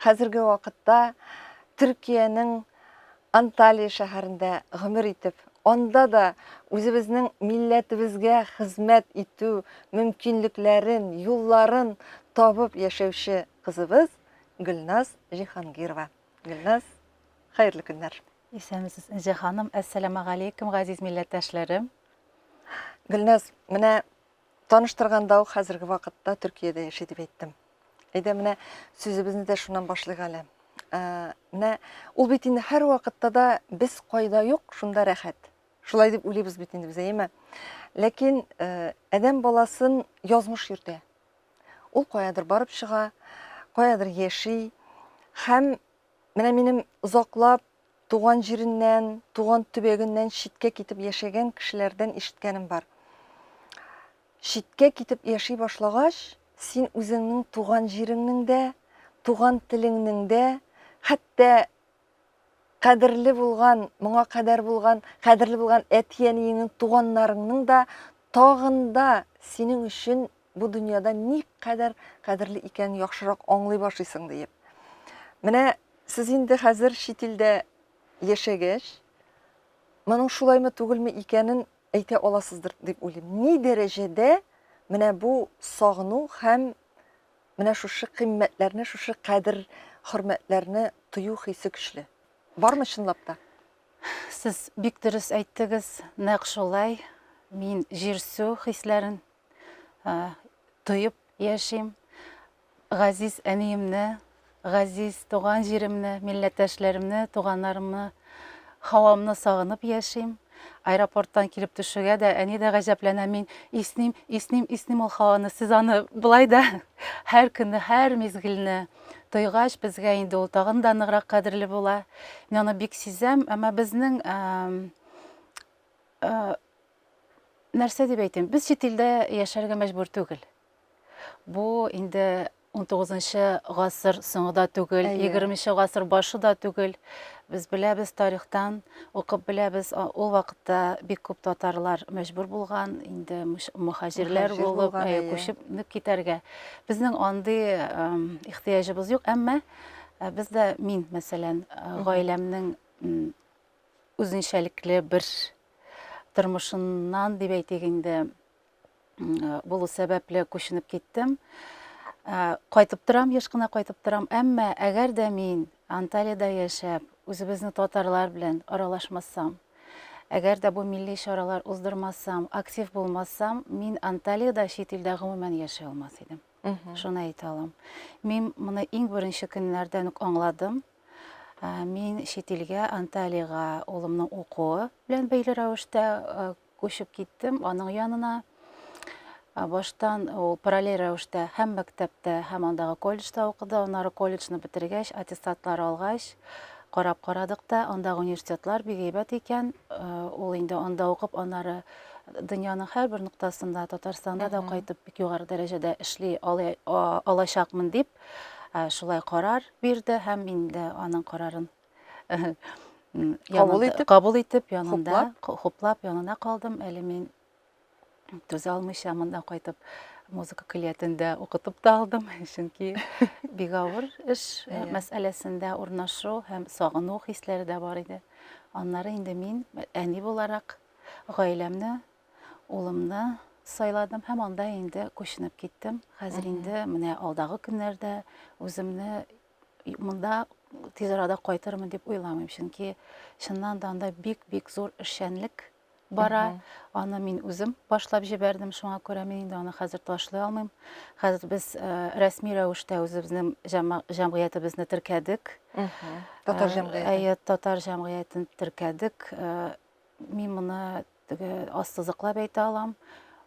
Хәзерге вакытта Төркиянең Анталия шәһәрендә гомер итеп, анда да үзебезнең милләтебезгә хезмәт итү мөмкинлекләрен, юлларын табып яшәүче кызыбыз Гөлназ Җиһангирова. Гөлназ, хәерле көннәр! Исәнмесез, Энҗе ханым! Әссәламәгаләйкем, газиз милләттәшләрем! Гөлназ, менә Таныштырганда ук хәзерге вакытта Төркиядә яши дип әйттем. Әйдә менә сүзебезне дә шуннан башлыйк әле. Ә, менә ул бит инде һәрвакытта да без кайда юк, шунда рәхәт. Шулай дип уйлыйбыз бит инде без, әйеме? Ләкин э, адәм баласын язмыш йөртә. Ул каядыр барып чыга, каядыр яши һәм Менә минем озаклап туган җиреннән, туган төбәгеннән читкә китеп яшәгән кешеләрдән ишеткәнем бар. Читкә китеп яши башлагач, син үзеңнең туган җиреңнең дә, туган телеңнең дә, хәтта кадерле булган, моңа кадәр булган, кадерле булган әти-әниеңнең, туганнарыңның да тагын да синең өчен Бу дөньяда никадәр кадерле икәнен яхшырак аңлый башлыйсың, диеп. Менә сез инде хәзер чит илдә яшәгәч, моның шулаймы түгелме икәнен әйтә аласыздыр дип уйлыйм. Ни дәрәҗәдә менә бу сагыну һәм менә шушы кыйммәтләрне, шушы кадер хөрмәтләрне тою хисе көчле. Бармы чынлап та? Сез бик дөрес әйттегез, нәкъ шулай. Мин җир-су хисләрен тоеп яшим. Газиз әниемне, газиз туган җиремне, милләттәшләремне, туганнарымны, һавамны сагынып яшим. Аэропорттан килеп төшүгә дә әни дә гаҗәпләнә, мин исним, исним, исним ул һаваны. Сез аны былай да һәр көнне, һәр мизгелне тойгач, безгә инде ул тагын да ныграк кадерле була. Мин аны бик сизәм, әмма безнең Нәрсә дип әйтим, без чит илдә яшәргә мәҗбүр түгел. Бу инде унтугызынчы гасыр соңы да түгел, егерменче гасыр башы да түгел. Без беләбез тарихтан, укып беләбез, ул вакытта бик күп татарлар мәҗбүр булган, инде мөхаҗирләр булып, күчеп китәргә. Безнең андый ихтыяҗыбыз юк, әмма без дә, мин, мәсәлән, гаиләмнең үзенчәлекле бер тормышыннан дип әйтик инде булу сәбәпле күченеп киттем кайтып торам еш кына кайтып торам әмма әгәр дә мин анталиядә яшәп үзебезне татарлар белән аралашмасам әгәр дә бу милли чаралар уздырмасам актив булмасам мин анталиядә чит илдә гомумән яши алмас идем шуны әйтә алам мин моны иң беренче көннәрдән үк аңладым Мин чит илгә, Анталиягә улымның укуы белән бәйле рәвештә күчеп киттем аның янына. Баштан ул параллель рәвештә һәм мәктәптә, һәм андагы колледжда укыды. Аннары колледжны бетергәч, аттестатлар алгач, карап карадык та, андагы университетлар бик әйбәт икән. Ул инде анда укып, аннары дөньяның һәрбер ноктасында, Татарстанда да кайтып бик югары дәрәҗәдә эшли алачакмын дип, шулай карар. бирде һәм инде аның карарын кабул итеп, кабул итеп янында хуплап, хуплап янына калдым. Әле мин түзә алмыйча монда кайтып музыка көллиятендә укытып та алдым, чөнки бик авыр эш э, мәсьәләсендә урнашу һәм сагыну хисләре дә бар иде. Аннары инде мин әни буларак гаиләмне улымны сайладым һәм анда инде күченеп киттем. Хәзер инде менә алдагы көннәрдә үземне монда тиз арада кайтырмын дип уйламыйм, чөнки чыннан да анда бик-бик зур эшчәнлек бара. Аны мин үзем башлап җибәрдем, шуңа күрә мин инде аны хәзер ташлый алмыйм. Хәзер без э, рәсми рәвештә үзебезнең җәмгыятебезне теркәдек. Татар э, җәмгыяте. Әйе, татар җәмгыятен теркәдек. Э, Мин моны теге ассызыклап әйтә алам.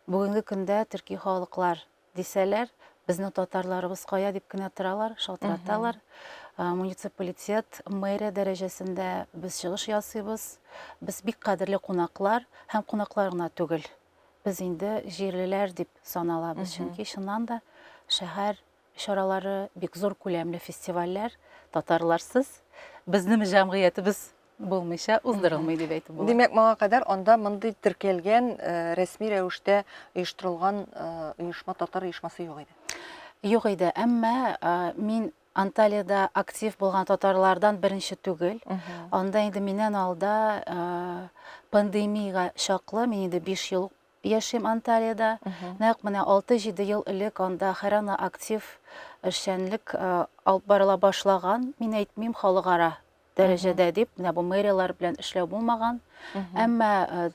Бүгенге көндә төрки халыклар дисәләр, безнең татарларыбыз кая дип кенә торалар, шалтыраталар. Муниципалитет, мэрия дәрәҗәсендә без чыгыш ясыйбыз. Без бик кадерле кунаклар һәм кунаклар гына түгел. Без инде җирлеләр дип саналабыз, чөнки чыннан да шәһәр чаралары, бик зур күләмле фестивальләр татарларсыз, безнең җәмгыятебез булмыйча уздырылмый дип әйтеп була. Димәк, моңа кадәр анда мондый теркәлгән, э, рәсми рәвештә оештырылган э, оешма, татар оешмасы юк иде. Юк иде, әмма э, мин Анталиядә актив булган татарлардан беренче түгел. Анда инде миннән алда э, пандемиягә чаклы, мин инде 5 ел Яшим Анталиядә. Нәкъ менә алты-җиде ел элек анда хәрана актив эшчәнлек алып барыла башлаган. Мин әйтмим халыкара дәрәҗәдә дип, менә бу мэрияләр белән эшләү булмаган. Әмма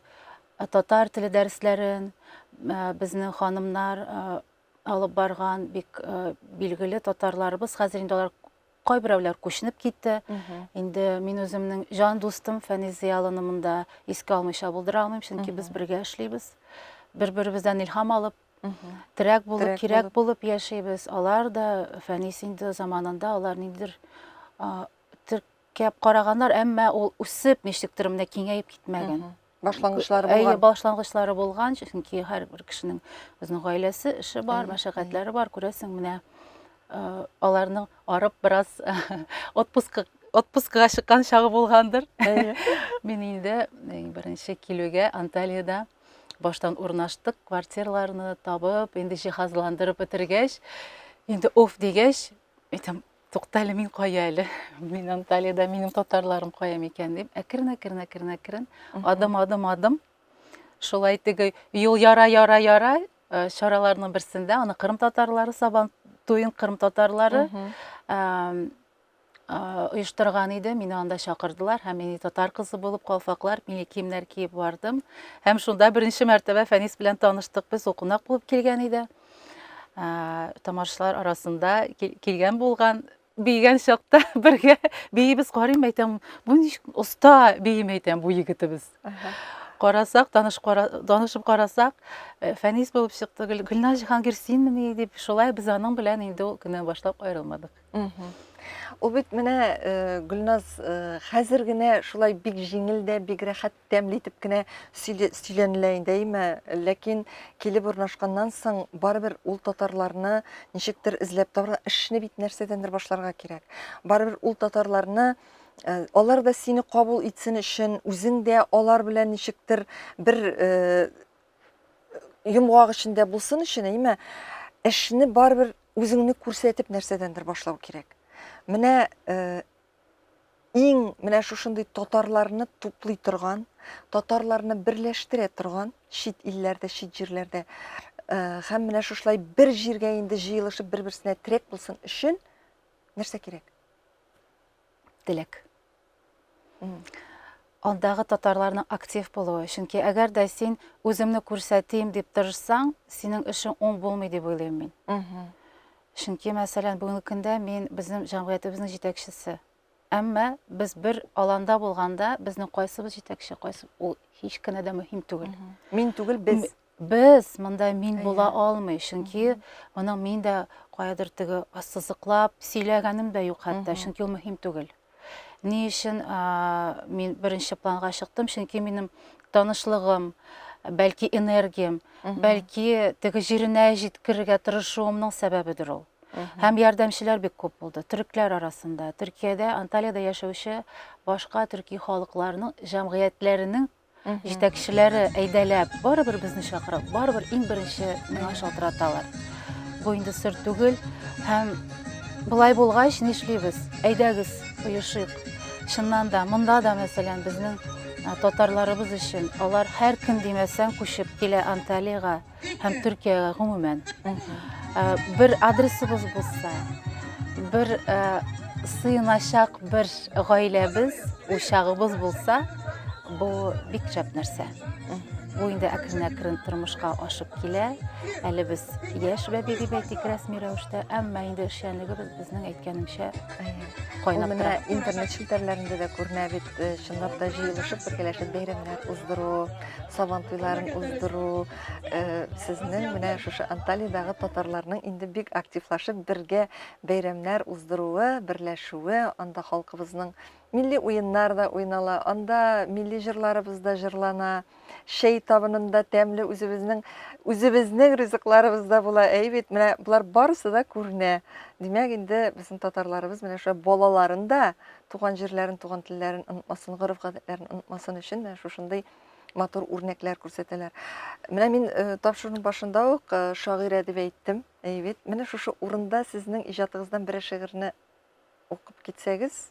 татар теле дәресләрен безнең ханымнар алып барган, бик билгеле татарларыбыз, хәзер инде алар Кайберәүләр күченеп китте. Инде мин үземнең җан дустым Фәнис Зыялыны монда искә алмыйча булдыра алмыйм, чөнки без бергә эшлибез. Бер-беребездән илһам алып, терәк булып, кирәк булып яшибез. Алар да Фәнис инде заманында алар ниндидер теркәп караганнар, әмма ул үсеп, ничектер менә киңәеп китмәгән. башлангычлары булган. Әйе, башлангычлары булган, чөнки һәрбер кешенең үзенең гаиләсе, эше бар, мәшәкатьләре бар, күрәсең, менә э, аларның арып бераз отпускка отпускага чыккан чагы булгандыр. Мин инде э, беренче килүгә Анталиядә баштан урнаштык, квартирларны табып, инде җиһазландырып бетергәч, инде оф дигәч, әйтәм, Тукта әле, мин кая әле? Мин Анталиядә, минем татарларым кая микән дип, әкрен, әкрен, әкрен, әкрен, адым, адым, адым. Шулай теге юл яра, яра, яра э, чараларның берсендә аны Кырым татарлары Сабан туен Кырым татарлары оештырган иде. Мине анда чакырдылар һәм мин татар кызы булып калфаклар, милли киемнәр киеп бардым. Һәм шунда беренче мәртәбә Фәнис белән таныштык. Без укунак булып килгән иде. тамашачылар арасында килгән булган бийгән чакта бергә биебез карыйм әйтәм бу ничек оста бием әйтәм бу егетебез карасак таныш танышып карасак э, фәнис булып чыкты гөлназ җиһангир синмени дип шулай без аның белән инде ул көннән башлап аерылмадык Ул бит менә э, Гөлназ э, хәзер генә шулай бик җиңел дә, бик рәхәт тәмле итеп кенә сөйләнелә инде, әйме? Ләкин килеп урнашканнан соң барыбер ул татарларны ничектер эзләп табарга, эшне бит нәрсәдәндер башларга кирәк. Барыбер ул татарларны э, алар да сине кабул итсен өчен, үзең дә алар белән ничектер бер йомгак эчендә булсын өчен, әйме, эшне барыбер үзеңне күрсәтеп нәрсәдәндер башлау кирәк. Менә э, иң менә шушындый татарларны туплый торган, татарларны берләштерә торган чит илләрдә, чит җирләрдә э, һәм менә шушылай бер җиргә инде җыелышып бер-берсенә терәк булсын өчен нәрсә кирәк? теләк. Андагы татарларның актив булуы. Чөнки әгәр дә син үземне күрсәтим дип тырышсаң, синең эшең уң булмый дип уйлыйм мин. Чөнки, мәсәлән, бүгенге көндә мин безнең җәмгыятебезнең җитәкчесе. Әмма без бер аланда булганда, безнең кайсыбыз җитәкче, кайсы ул һич кенә дә мөһим түгел. Мин түгел, без. Без монда мин була алмый, чөнки моның мин дә каядыр теге ассызыклап сөйләгәнем дә юк хәтта, чөнки ул мөһим түгел. Ни өчен мин беренче планга чыктым? Чөнки минем танышлыгым, бәлки энергиям, бәлки теге җиренә җиткерергә тырышуымның сәбәбедер ул. Һәм ярдәмчеләр бик күп булды. Төрекләр арасында, Төркиядә, Анталиядә яшәүче башка төрки халыкларның җәмгыятьләренең Җитәкчеләре әйдәләп, барыбер безне чакырып, барыбер иң беренче миңа шалтыраталар. Бу инде сер түгел һәм былай булгач нишлибез? Әйдәгез, оешыйк. Чыннан да, монда да, мәсәлән, безнең татарларыбыз өчен алар һәр кем димәсәң күчеп килә Анталиягә. һәм Төркиягә гомумән. Бер адресыбыз булса, бер сыйыначак бер гаиләбез, учагыбыз булса, бу бик шәп нәрсә. Бу инде әкрен-әкрен тормышка ашып килә. Әле без яшь бәби дип әйтик рәсми рәвештә, әмма инде эшчәнлегебез безнең әйткәнемчә кайнап тора. Интернет челтәрләрендә дә күренә бит. Э, чынлап та җыелышып бергәләшеп бәйрәмнәр уздыру сабан туйларын уздыру э, сезнең менә шушы анталиядагы татарларның инде бик активлашып бергә бәйрәмнәр уздыруы берләшүе анда халкыбызның милли уеннар да уйнала анда милли җырларыбыз да җырлана чәй табынында тәмле үзебезнең үзебезнең ризыкларыбыз да була, әй бит, менә болар барысы да күренә. Димәк, инде безнең татарларыбыз менә шулай балаларын да туган җирләрен, туган телләрен онытмасын, гореф-гадәтләрен онытмасын өчен менә шушындый матур үрнәкләр күрсәтәләр. Менә мин э, тапшыруның башында ук э, шагыйрә дип әйттем. Әй бит, менә шушы урында сезнең иҗатыгыздан берәр шигырьне укып китсәгез,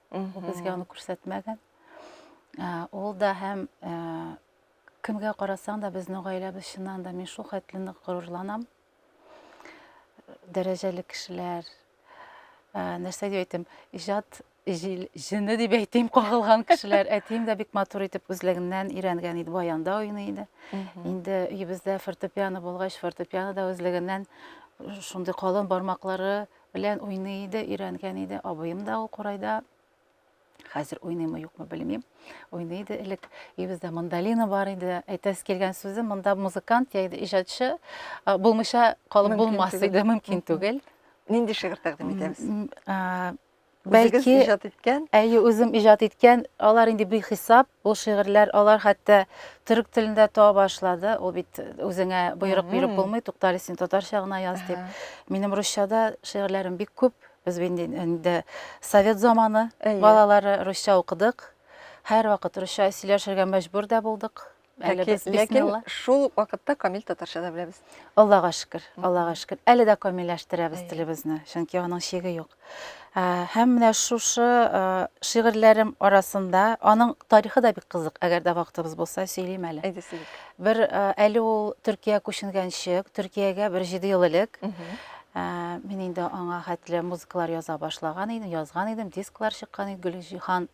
Ул безгә аны күрсәтмәгән. Ул да һәм кемгә карасаң да безнең гаиләбез чыннан да мин шул хәтле нык горурланам. Дәрәҗәле кешеләр. Нәрсә дип әйтим? Иҗат җене дип әйтим, кагылган кешеләр. Әтием дә бик матур итеп үзлегеннән өйрәнгән иде, баянда уйный иде. Инде өебездә фортепиано булгач, фортепиано да үзлегеннән шундый калын бармаклары Белән уйный иде, өйрәнгән иде. Абыем да ул курайда. Хәзер уйныймы, юкмы белмим. Уйный иде элек. Өебездә мандолина бар иде. Әйтәс килгән сүзе, монда музыкант яиде иҗатчы булмыйча калып булмас иде, мөмкин түгел. Нинди шигырь тәкъдим итәбез? Үзегез Бәлки- иҗат иткән. Әйе, үзем иҗат иткән. Алар инде бихисап, ул шигырьләр, алар хәтта төрек телендә туа башлады. Ул бит үзеңә боерык биреп Мгм. булмый, туктале син татарча гына яз дип. Ага. Минем русчада шигырьләрем бик күп. Без бит инде- инде совет заманы Әйе. балалары русча укыдык. Һәрвакыт русча сөйләшергә мәҗбүр дә булдык. Әле без бисмилла. Шул ук вакытта камил татарча да беләбез. Аллага шөкер, Аллага шөкер. Әле дә камилләштерәбез телебезне, чөнки аның чиге юк. Һәм менә шушы шигырьләрем арасында аның тарихы да бик кызык, әгәр дә вакытыбыз булса, сөйлим әле. Әйдә сөйлик. Бер әле ул Төркия күченгәнче, Төркиягә бер 7 ел элек мин инде аңа хәтле музыкалар яза башлаган идем, язган идем, дисклар чыккан иде, Гөлҗиһан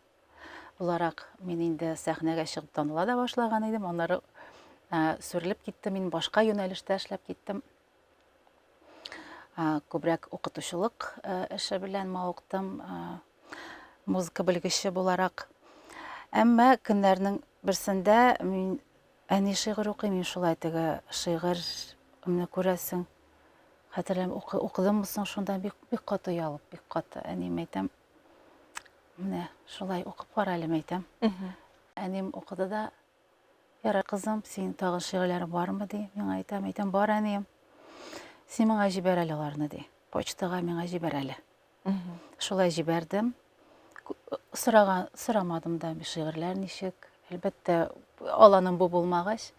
буларак мин инде сәхнәгә чыгып таныла да башлаган идем. Аннары сүрелеп китте, мин башка юнәлештә эшләп киттем. Күбрәк укытучылык эше белән мавыктым, музыка белгече буларак. Әмма көннәрнең берсендә мин әни шигырь укый, мин шулай теге шигырьне күрәсең. Хәтерләм, укыдыммы соң шунда бик бик каты ялып, бик каты. Әнием әйтәм, Менә шулай укып кара әле, мәйтәм. Әним укыды да, ярай кызым, синең тагын шигырьләрең бармы, ди. Миңа әйтә, мәйтәм, бар әнием. Син миңа җибәр әле аларны, ди. Почтага миңа җибәр әле. Шулай җибәрдем. Сораган, сорамадым да, шигырьләр ничек. Әлбәттә, аланым бу булмагач.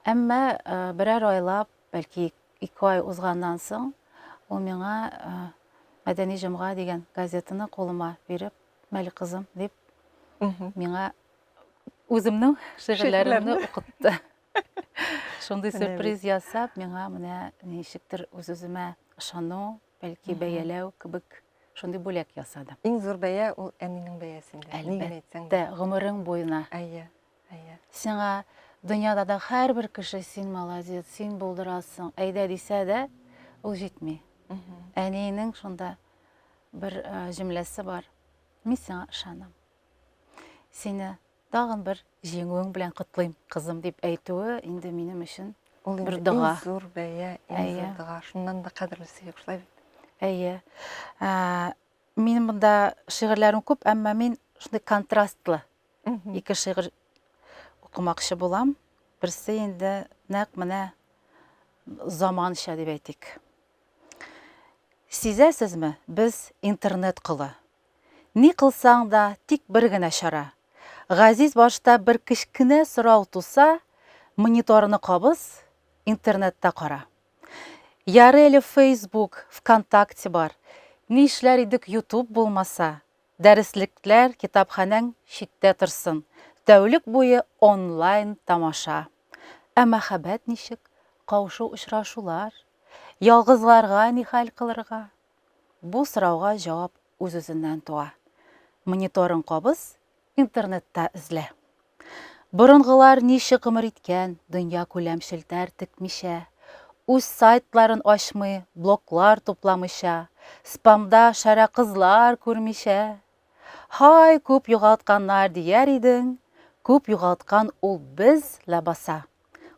Әмма берәр айлап Бәлки ике ай узганнан соң ул миңа Мәдәни җомга дигән газетаны кулыма биреп, Мәлик кызым дип, миңа үземнең шигырьләремне укытты. Шундый сюрприз ясап, миңа менә ничектер үз-үземә ышану, бәлки бәяләү кебек шундый бүләк ясады. Иң зур бәя ул әнинең бәясендә. Әлбәттә, гомерең буена. Әйе. Әйе. Сиңа дөньяда да һәрбер кеше син молодец, син булдырасың, әйдә дисә дә, ул җитми. Әниенең шунда бер җөмләсе бар. Мин сиңа ышанам. Сине тагын бер җиңүең белән котлыйм, кызым, дип әйтүе инде минем өчен ул бер дога. Иң зур бәя, иң зур дога. Шуннан да кадерлесе юк, шулай бит. Әйе. Ә, мин монда шигырьләрем күп, әмма мин шундый контрастлы Ике шигырь укымакчы булам. Берсе инде нәкъ менә заманча дип әйтик. Сизәсезме, без интернет кылы. Ни кылсаң да, тик бер генә чара. Газиз башта бер кечкенә сорау туса, мониторны кабыз, интернетта кара. Ярый әле Facebook, ВКонтакте бар. Ни эшләр идек YouTube булмаса? Дәреслекләр китапханәң читтә торсын, тәүлек буе онлайн тамаша. Ә мәхәббәт ничек, каушу-очрашулар? Ялгызларга ни хәл кылырга? Бу сорауга җавап үз-үзеннән туа. Мониторын кабыз, интернетта эзлә. Борынгылар ничек гомер иткән, дөньякүләм челтәр текмичә, үз сайтларын ачмый, блоглар тупламыйча, спамда шәрә кызлар күрмичә? Һай, күп югалтканнар дияр идең, күп югалткан ул без ләбаса.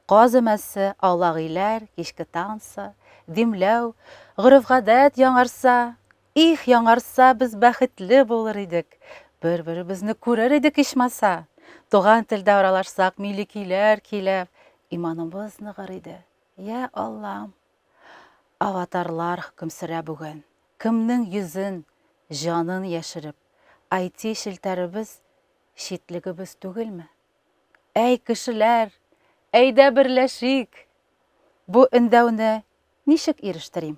Каз өмәсе, аулагиләр, кичке танцы, димләү, гореф-гадәт яңарса, Их, яңарса, без бәхетле булыр идек! Бер-беребезне күрер идек ичмаса! Туган телдә аралашсак, милли көйләр көйләп, иманыбыз ныгыр иде. Йә, Аллам! Аватарлар хөкем сөрә бүген. Кемнең йөзен, җанын яшереп, IT челтәребез читлегебез түгелме? Әй, кешеләр, әйдә берләшик! Бу өндәүне ничек ирештерим?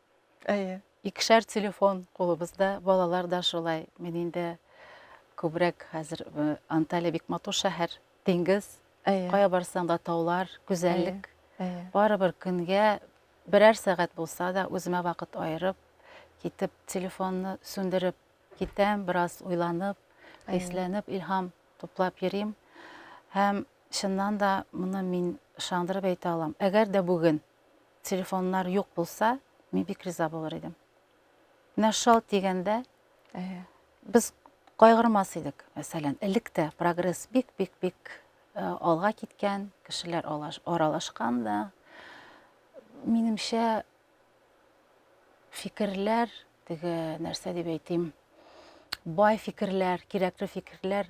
Әйе. Икешәр телефон кулыбызда, балалар да шулай. Мин инде күбрәк хәзер э, Анталия бик матур шәһәр, диңгез. Әйе. Кая барсаң да таулар, гүзәллек. Әйе. Барыбер көнгә берәр сәгать булса да үземә вакыт аерып, китеп телефонны сүндереп китәм, бераз уйланып, Әйе. хисләнеп, илһам туплап йөрим. Һәм чыннан да моны мин ышандырып әйтә алам. Әгәр дә бүген телефоннар юк булса, мин бик риза булыр идем. Менә шал дигәндә, без кайгырмас идек. Мәсәлән, элек тә прогресс бик-бик-бик алга киткән, кешеләр аралашкан да. Минемчә, фикерләр, теге нәрсә дип әйтим, бай фикерләр, кирәкле фикерләр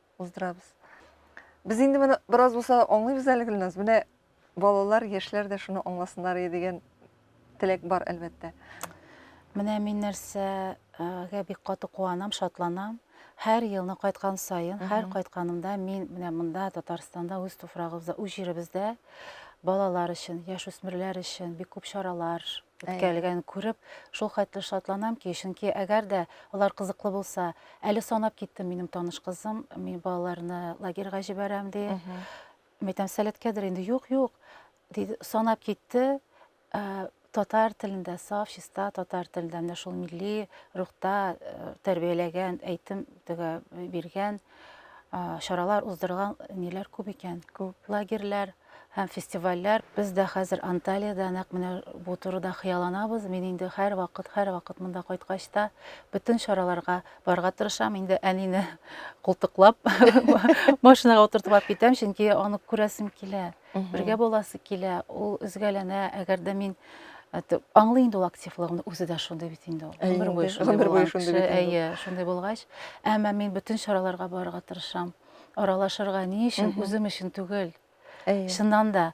уздырабыз. Без инде моны бераз булса аңлыйбыз әле, Гөлназ. Менә балалар, яшьләр дә шуны аңласыннар иде дигән теләк бар, әлбәттә. Менә мин нәрсәгә бик каты куанам, шатланам. Һәр елны кайткан саен, һәр кайтканымда мин менә монда Татарстанда үз туфрагыбызда, үз җиребездә балалар өчен, яшүсмерләр өчен бик күп чаралар үткәрелгәнен күреп, шулкадәр шатланам ки, чөнки әгәр дә алар кызыклы булса, әле санап киттем, минем таныш кызым, мин балаларны лагерьга җибәрәм, ди. Мин әйтәм, сәләткәдер инде, юк, юк, ди, санап китте, ә, татар телендә, саф, чиста татар телендә, менә шул милли рухта э, тәрбияләгән, әйтем төгә биргән, а, чаралар уздырган ниләр күп икән. Күп. Лагерьләр. һәм фестивальләр. Без дә хәзер Анталиядә нәкъ менә бу турыда хыялланабыз. Мин инде һәрвакыт, һәрвакыт монда кайткач та бөтен чараларга барырга тырышам. Инде әнине култыклап, машинага утыртып алып китәм, чөнки аны күрәсем килә. Бергә буласы килә. Ул өзгәләнә. Әгәр дә мин аңлый инде ул активлыгымны, үзе дә шундый бит инде ул. Гомер буе шундый булгач. Әйе, шундый булгач. Әмма мин бөтен чараларга барырга тырышам. Аралашырга ни өчен, үзем өчен түгел. Чыннан да,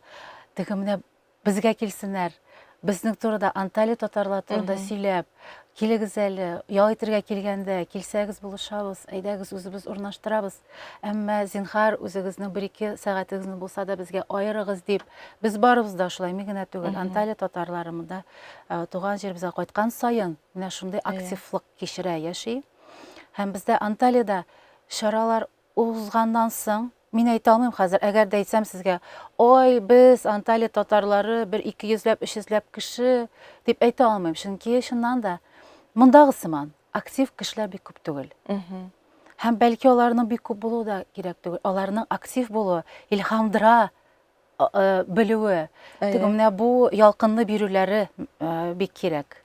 теге менә безгә килсеннәр, безнең турыда, Анталия татарлар турында сөйләп, килегез әле, ял итергә килгәндә, килсәгез булышабыз, әйдәгез үзебез урнаштырабыз. Әмма зинхар үзегезнең бер ике сәгатегезне булса да безгә аерыгыз дип, без барыбыз да шулай, мин генә түгел, Анталия татарлары монда туган җиребезгә кайткан саен менә шундый активлык кичерә, яши. Һәм бездә Анталиядә чаралар узганнан соң, мин әйтә алмыйм хәзер, әгәр дә әйтсәм сезгә, ой, без Анталия татарлары бер ике йөзләп, өч йөзләп кеше, дип әйтә алмыйм, чөнки чыннан да мондагы сыман актив кешеләр бик күп түгел. Һәм бәлки аларның бик күп булуы да кирәк түгел. Аларның актив булуы, илһамдыра, белүе, теге менә бу ялкынлы бирүләре бик кирәк.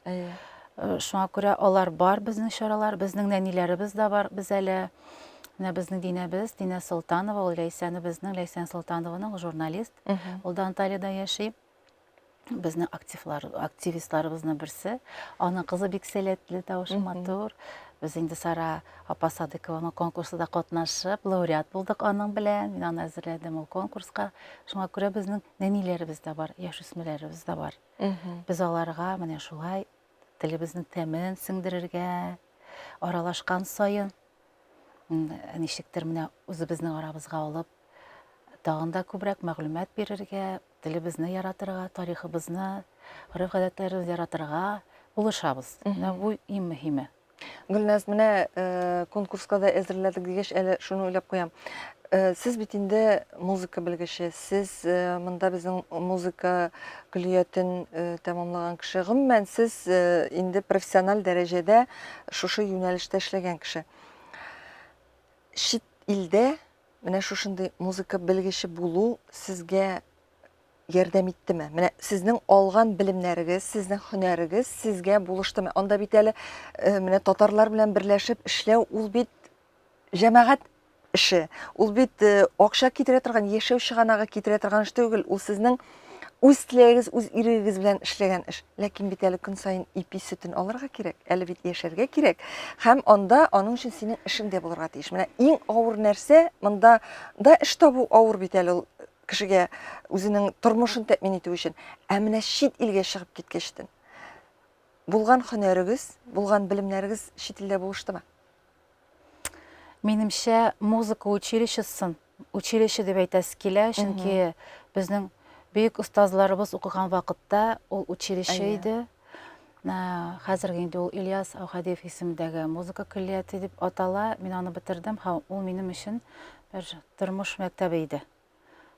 Шуңа күрә алар бар безнең чаралар, безнең нәниләребез дә бар без әле. Менә безнең Динәбез, Динә Солтанова, ул Ләйсәне безнең, Ләйсән Солтанованың журналист. Ул да Анталиядә яши. безнең активлар, активистларыбызның берсе. Аның кызы бик сәләтле, тавышы матур. Без инде Сара апа Садыкованың конкурсында катнашып, лауреат булдык аның белән. Мин аны әзерләдем ул конкурска. Шуңа күрә безнең нәниләребез дә бар, яшүсмерләребез дә бар. Без аларга менә шулай телебезнең тәмен сеңдерергә, аралашкан саен ничектер менә үзебезнең арабызга алып, тагын да күбрәк мәгълүмат бирергә, телебезне яратырга, тарихыбызны, гореф-гадәтләребезне яратырга булышабыз. Менә бу иң мөһиме. Гөлназ, менә э, конкурска да әзерләдек дигәч, әле шуны уйлап куям. Э, сез бит инде музыка белгече, сез э, монда безнең музыка көллиятен э, тәмамлаган кеше. Гомумән, сез э, инде профессиональ дәрәҗәдә шушы юнәлештә эшләгән кеше. Чит илдә Менә шушындый музыка белгече булу сезгә ярдәм иттеме? Менә сезнең алган белемнәрегез, сезнең һөнәрегез сезгә булыштымы? Анда бит әле э, менә татарлар белән берләшеп эшләү ул бит җәмәгать эше. Ул бит э, акча китерә торган, яшәү чыганагы китерә торган эш түгел. Ул сезнең үз теләгегез, үз ирегегез белән эшләгән эш. Ләкин бит әле көн саен ипи сөтен алырга кирәк, әле бит яшәргә кирәк. Һәм анда аның өчен синең эшең дә булырга тиеш. Менә иң авыр нәрсә монда да эш табу авыр бит әле ул кешегә үзенең тормышын тәэмин итү өчен. Ә менә чит илгә чыгып киткәчтен булган хөнәрегез, булган белемнәрегез чит илдә булыштымы? Минемчә, музыка училищесын Училище дип әйтәсе килә, чөнки безнең бөек остазларыбыз укыган вакытта ул училище иде. Хәзерге инде ул Ильяс Аухадиев исемендәге музыка көллияте дип атала. Мин аны бетердем һәм ул минем өчен бер тормыш мәктәбе иде.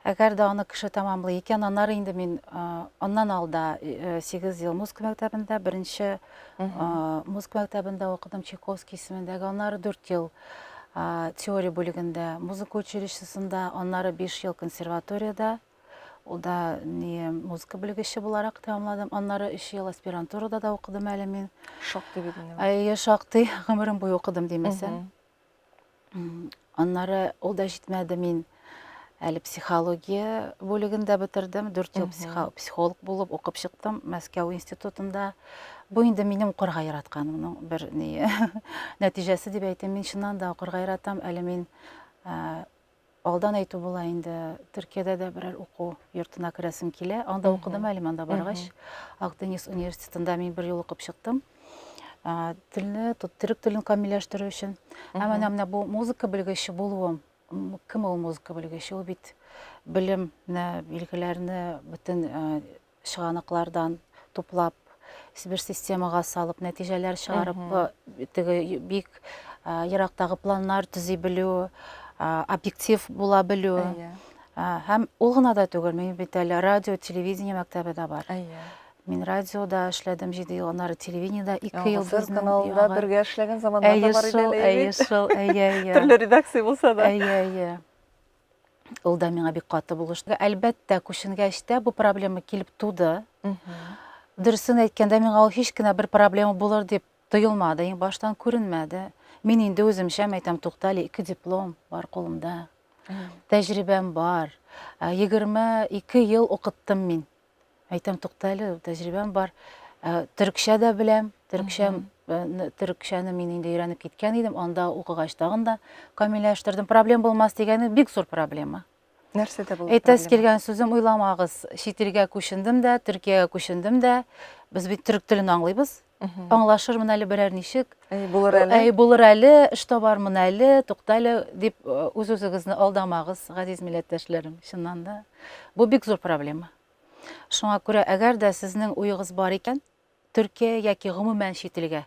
Әгәр дә аны кеше тәмамлый икән, аннары инде мин аннан алда 8 ел музыка мәктәбендә беренче Музыка мәктәбендә укыдым, Чайковский исемендәге, аннары дүрт ел теория бүлегендә, музыка училищесында, аннары биш ел консерваторияда, ул да не музыка бүлегеше буларак тәмамладым, аннары өч ел аспирантурада да укыдым әле мин. Шактый бит инде. Әйе, шактый, гомерем буе укыдым димәсәм. Аннары ул да җитмәде, мин әле психология бүлеген дә бетердем, дүрт ел психолог булып укып чыктым Мәскәү институтында. Бу инде минем укырга яратканымның бер нәтиҗәсе дип әйтәм. Мин чыннан да укырга яратам, әле мин Алдан әйтү була инде, Төркиядә дә берәр уку йортына керәсем килә. Анда укыдым әле, монда баргач, Акдениз университетында мин бер ел укып чыктым. Телне, төрек телен камилләштерү өчен. Ә менә менә бу музыка белгече булуым, кем ул музыка белгече? Ул бит белем, билгеләрне бөтен чыганаклардан туплап, бер системага салып, нәтиҗәләр чыгарып, теге бик ерактагы планнар төзи белү, объектив була белү. Һәм ул гына да түгел, мин бит әле радио, телевидение мәктәбе дә бар. Мин радиода эшләдем 7 ел, аннары телевидениедә 2 ел без каналында бергә эшләгән заманнар да бар иде. Әйе, шул, әйе, әйе. Төрле редакция булса да. Әйе, әйе. Ул да миңа бик каты булышты. Әлбәттә, күченгәч тә бу проблема килеп туды. Дөресен әйткәндә, миңа ул һич кенә бер проблема булыр дип тоелмады, иң баштан күренмәде. Мин инде үземчә әйтәм, туктале, ике диплом бар кулымда. Тәҗрибәм бар. 22 ел укыттым мин Әйтәм, тукта әле, тәҗрибәм бар. Ә, Төрекчә дә беләм. Төрекчә, э, н- төрекчәне мин инде өйрәнеп киткән идем. Анда укыгач тагын да камилләштердем. Проблем булмас дигәне бик зур проблема. Нәрсәдә булды? Әйтәсе проблема? килгән сүзем уйламагыз. Чит илгә күчендем дә, Төркиягә күчендем дә. Без бит төрек телен аңлыйбыз. аңлашырмын әле берәр ничек, әй булыр әле, әй булыр әле, эш табармын әле, тукта әле дип үз-үзегезне алдамагыз, газиз милләттәшләрем, чыннан да. Бу бик зур проблема. Шуңа күрә, әгәр дә сезнең уегыз бар икән, Төркия яки гомумән чит илгә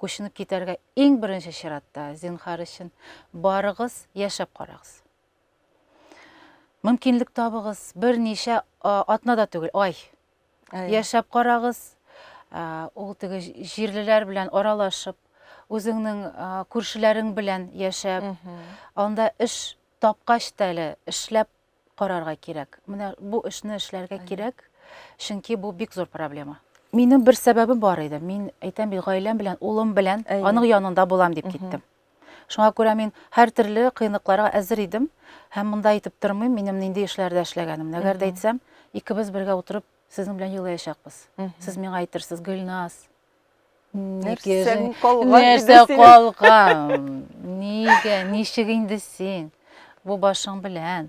күченеп китәргә иң беренче чиратта, зинхар өчен, барыгыз, яшәп карагыз. Мөмкинлек табыгыз, берничә атнада түгел, ай, яшәп карагыз, ул теге җирлеләр белән аралашып, үзеңнең күршеләрең белән яшәп, анда эш тапкач та әле эшләп карарга кирәк. Менә бу эшне эшләргә кирәк, чөнки бу бик зур проблема. Минем бер сәбәбем бар иде. Мин әйтәм бит, гаиләм белән, улым белән аның янында булам дип киттем. Шуңа күрә мин һәртөрле кыенлыкларга әзер идем һәм монда әйтеп тормыйм, минем нинди эшләрдә эшләгәнемне. Әгәр дә әйтсәм, икебез бергә утырып сезнең белән елаячакбыз. Сез миңа әйтерсез, Гөлназ, нәрсәң калган? Нәрсә калган? Нигә, ничек инде син бу башың белән?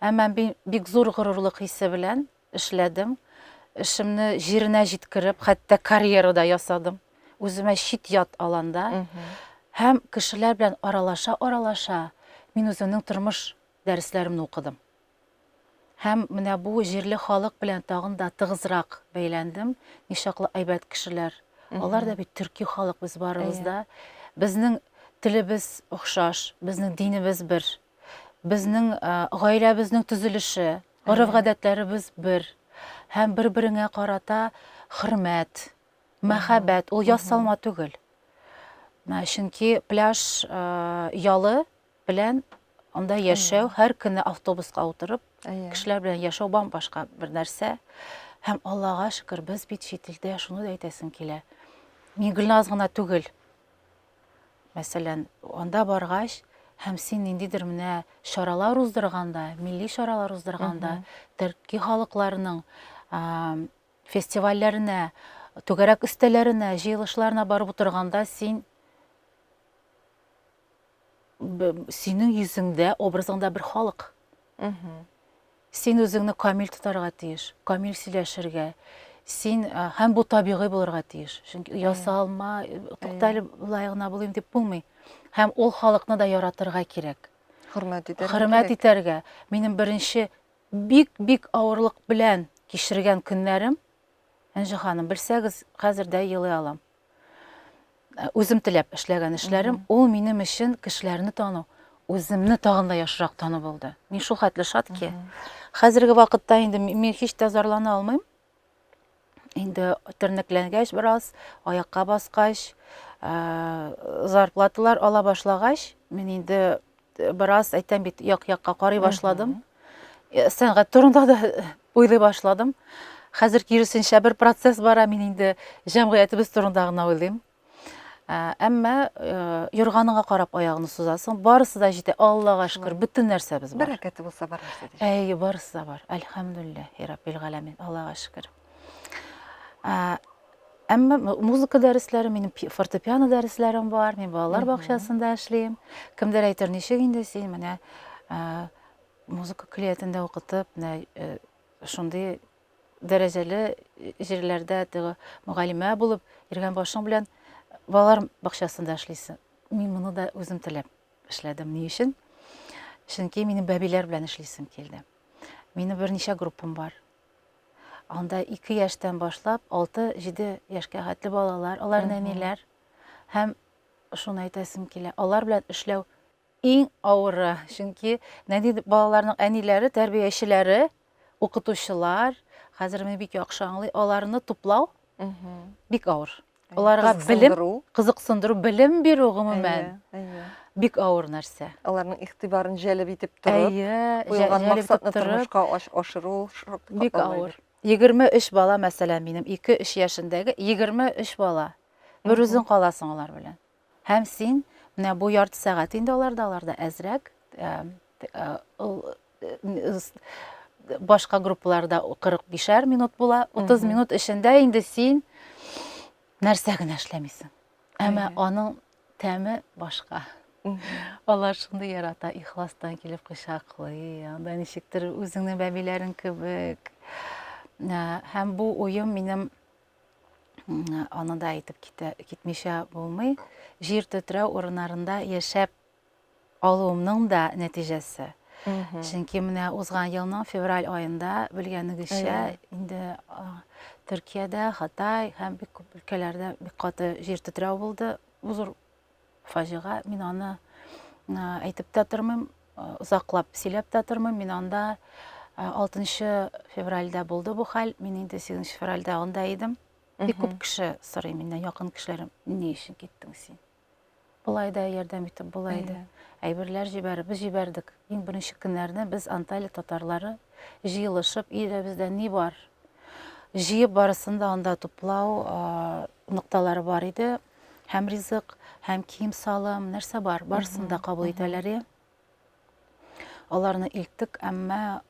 Әмма мин бик зур горурлык хисе белән Эшләдем. Эшемне җиренә җиткереп, хәтта карьера да ясадым. Үземә чит-ят аланда һәм кешеләр белән аралаша-аралаша, мин үземнең тормыш дәресләремне укыдым. Һәм менә бу җирле халык белән тагын да тыгызрак бәйләндем. Ничаклы әйбәт кешеләр. Алар да бит төрки халык, без барыбыз да. Безнең телебез охшаш, безнең динебез бер, безнең гаиләбезнең төзелеше, Гореф-гадәтләребез бер һәм бер-береңә карата хөрмәт, мәхәббәт, ул ясалма түгел. Менә чөнки пляж ялы белән анда яшәү, һәр көнне автобуска утырып, кешеләр белән яшәү башка бер нәрсә. Һәм Аллага шөкер, без бит чит илдә, шуны да әйтәсем килә. Мин Гөлназ гына түгел. Мәсәлән, анда баргач һәм син ниндидер менә чаралар уздырганда, милли чаралар уздырганда, төрки халыкларының фестивальләренә, түгәрәк өстәлләренә, җыелышларына барып утырганда син синең йөзеңдә, образыңда бер халык. Син үзеңне камил тотарга тиеш, камил сөйләшергә, син, һәм бу табигый булырга тиеш. Чөнки ясалма, туктале болай гына булыйм дип булмый. Һәм ул халыкны да яратырга кирәк. Хөрмәт итәргә. Хөрмәт итәргә. Минем беренче бик-бик авырлык белән кичергән көннәрем, Энҗе ханым, белсәгез, хәзер дә елый алам. Үзем теләп эшләгән эшләрем, ул минем өчен кешеләрне тану, үземне тагын да яхшырак тану булды. Мин шул хәтле шат ки. Хәзерге вакытта инде мин һич тә зарлана алмыйм. Инде тернәкләнгәч бераз, аякка баскач, зарплаталар ала башлагач, мин инде Бераз әйтәм бит, як-якка карый башладым. Э, сәнгать турында да уйлый башладым. Хәзер киресенчә бер процесс бара, мин инде җәмгыятебез турында гына уйлыйм. Э, әмма э, юрганыңа карап аягыңны сузасың, барысы да җитә. Аллага шөкер, бөтен нәрсәбез бар. Бәрәкәте булса бар нәрсә. Әй, барысы да бар. Әлхәмдүлилләһи раббил галәмин. Аллага шөкер. Әмма музыка дәресләре, минем фортепиано дәресләрем бар, мин балалар бакчасында эшлим. Кемдер әйтер, ничек инде син менә музыка клиятендә укытып, менә э, шундый дәрәҗәле җирләрдә теге мөгаллимә булып, иргән башың белән балалар бакчасында эшлисең. Мин моны да үзем теләп эшләдем. Ни өчен? Чөнки минем бәбиләр белән эшлисем килде. Минем берничә группам бар. Анда ике яшьтән башлап, алты-җиде яшькә хәтле балалар, алар нәниләр. Һәм шуны әйтәсем килә, алар белән эшләү иң авыры, чөнки нәни балаларның әниләре, тәрбиячеләре, укытучылар, хәзер менә бик яхшы аңлый, аларны туплау бик авыр. Аларга белем, кызыксындыру, белем бирү гомумән бик авыр нәрсә. Аларның игътибарын җәлеп итеп торып, куелган максатны тормышка ашыру бик авыр. 23 бала мәсәлән минем 2-3 яшендәге 23 бала. Бер үзең каласың алар белән. Һәм син, менә бу ярты сәгать инде аларда, аларда әзрәк, башка группаларда 45-әр минут була, 30 минут эчендә инде син нәрсә генә эшләмисең. Әмма аның тәме башка. Алар шундый ярата, ихластан килеп кочаклый, анда ничектер үзеңнең бәбиләрең кебек. Һәм бу уем минем Аны да әйтеп китә, китмичә булмый. Җир төтрәү урыннарында яшәп алуымның да нәтиҗәсе. Чөнки менә узган елның февраль айында белгәнегезчә инде Төркиядә, Хытай һәм бик күп өлкәләрдә бик каты җир төтрәү булды. Бу зур Фаҗига, мин аны әйтеп тә тормыйм, озаклап сөйләп тә тормыйм. Мин анда 6 февральдә булды бу хәл. Мин инде 8 февральдә анда идем. Бик күп кеше сорый миннән, якын кешеләрем, ни өчен киттең син? Болай да ярдәм итеп була иде. Әйберләр җибәреп, без җибәрдек. Иң беренче көннәрне без Анталия татарлары җыелышып, өйдә бездә ни бар? Җыеп барысын да анда туплау нокталары бар иде. Һәм ризык, һәм кием-салым, нәрсә бар, барысын да кабул итәләр, я. Аларны илттек, әмма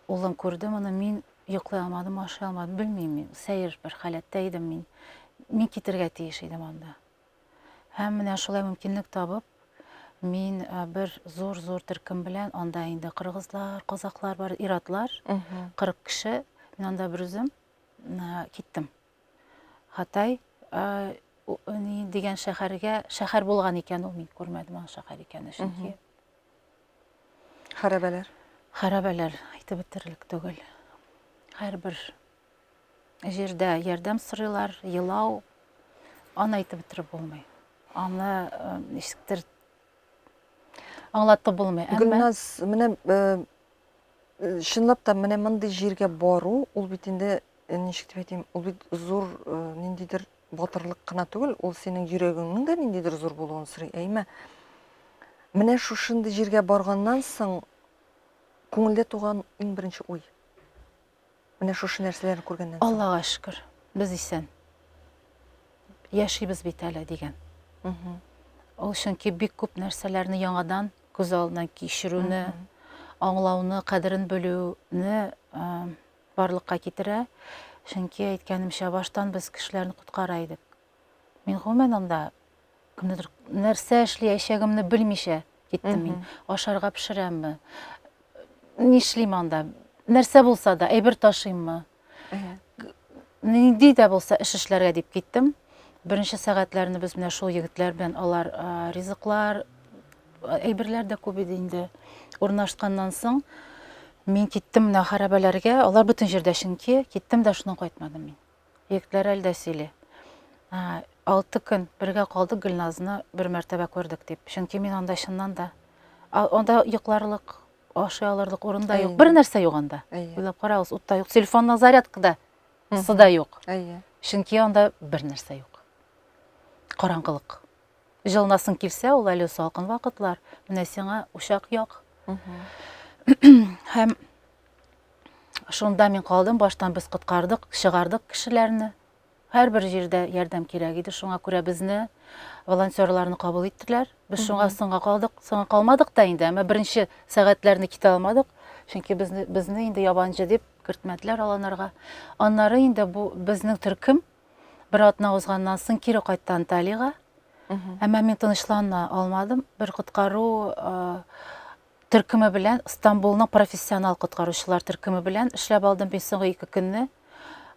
улым күрде моны, мин йоклый алмадым, ашый алмадым, белмим мин, сәер бер халәттә идем мин. Мин китергә тиеш идем анда. Һәм менә шулай мөмкинлек табып, мин бер зур-зур төркем белән анда инде кыргызлар, казаклар бар, иратлар, 40 кеше, мин анда бер үзем киттем. Хатай дигән шәхәргә, шәхәр булган икән ул, мин күрмәдем аның шәхәр икәнен, чөнки. Хәрабәләр. Хәрабәләр әйтеп бетерерлек түгел. Һәрбер җирдә ярдәм сорыйлар, елау, аны әйтеп бетереп булмый. Аны ничектер Аңлатып булмый, әмма... Гөлназ, менә чынлап та менә мондый җиргә бару, ул бит инде ничек дип әйтим, ул бит зур ниндидер батырлык кына түгел, ул синең йөрәгеңнең дә ниндидер зур булуын сорый. Әйме? Менә шушындый җиргә барганнан соң күңелдә туган иң беренче уй. Менә шушы нәрсәләрне күргәннән соң. Аллага шөкер, без исән. Яшибез бит әле, дигән. Ул чөнки бик күп нәрсәләрне яңадан күз алдына кичерүне, аңлауны, кадерен белүне барлыкка китерә. Чөнки әйткәнемчә, баштан без кешеләрне коткара идек. Мин гомумән анда Кемнедер нәрсә эшләячәгемне белмичә киттем мин. Ашарга пешерәмме? Нишлим анда? Нәрсә булса да, әйбер ташыйммы? Нинди дә булса эш эшләргә дип киттем. Беренче сәгатьләрне без менә шул егетләр белән алар ризыклар, әйберләр дә күп иде инде. Урнашканнан соң мин киттем менә хәрабәләргә. Алар бөтен җирдә чөнки, киттем дә шуннан кайтмадым мин. Егетләр әле дә сөйли. Ә, Алты көн бергә калдык, Гөлназны бер мәртәбә күрдек дип. Чөнки мин анда чыннан да а, анда йокларлык, ашый алырлык урын да юк. Әйе. Бер нәрсә юк анда. Әйе. Уйлап карагыз, ут та юк, телефонның зарядка да сы да юк. Әйе. Чөнки анда бер нәрсә юк. Караңгылык. Җылынасың килсә, ул әле салкын вакытлар. Менә сиңа учак як. Һәм шунда мин калдым, баштан без коткардык, чыгардык кешеләрне. Һәрбер җирдә ярдәм кирәк иде, шуңа күрә безне волонтерларны кабул иттеләр. Без шуңа соңга калдык, соңга калмадык та инде, әмма беренче сәгатьләрне китә алмадык, чөнки безне, безне инде ябанчы дип кертмәделәр аланарга. Аннары инде бу безнең төркем Бер атна узганнан соң кире кайтты Анталига. Әмма мин тынычлана алмадым. Бер коткару төркеме белән Стамбулның профессионал коткаручылар төркеме белән эшләп алдым мин соңгы ике көнне.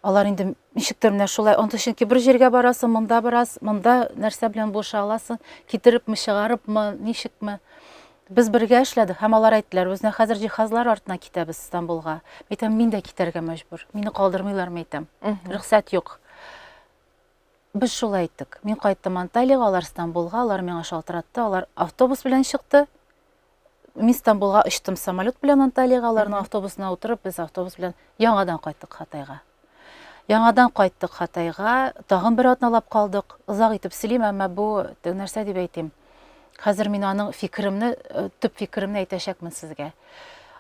Алар инде ничектер менә шулай онты чөнки бер җиргә барасың, монда бераз, монда нәрсә белән булыша аласың, китерепме, чыгарыпмы, ничекме. Без бергә эшләдек һәм алар әйттеләр, үзенә хәзер җиһазлар артына китәбез Стамбулга. Әйтәм, мин дә китәргә мәҗбүр. Мине калдырмыйлармы әйтәм. Рөхсәт юк. Без шулай әйттек. Мин кайттым Анталиягә, алар Стамбулга, алар миңа шалтыратты, алар автобус белән чыкты. Мин Стамбулга очтым самолет белән Анталиягә, аларның автобусына утырып, без автобус белән яңадан кайттык Хатайга. Яңадан кайттык Хатайга, тагын бер атналап калдык. Озак итеп сөйлим, әмма бу нәрсә дип әйтим. Хәзер мин аның фикеремне, э, төп фикеремне әйтәчәкмен сезгә.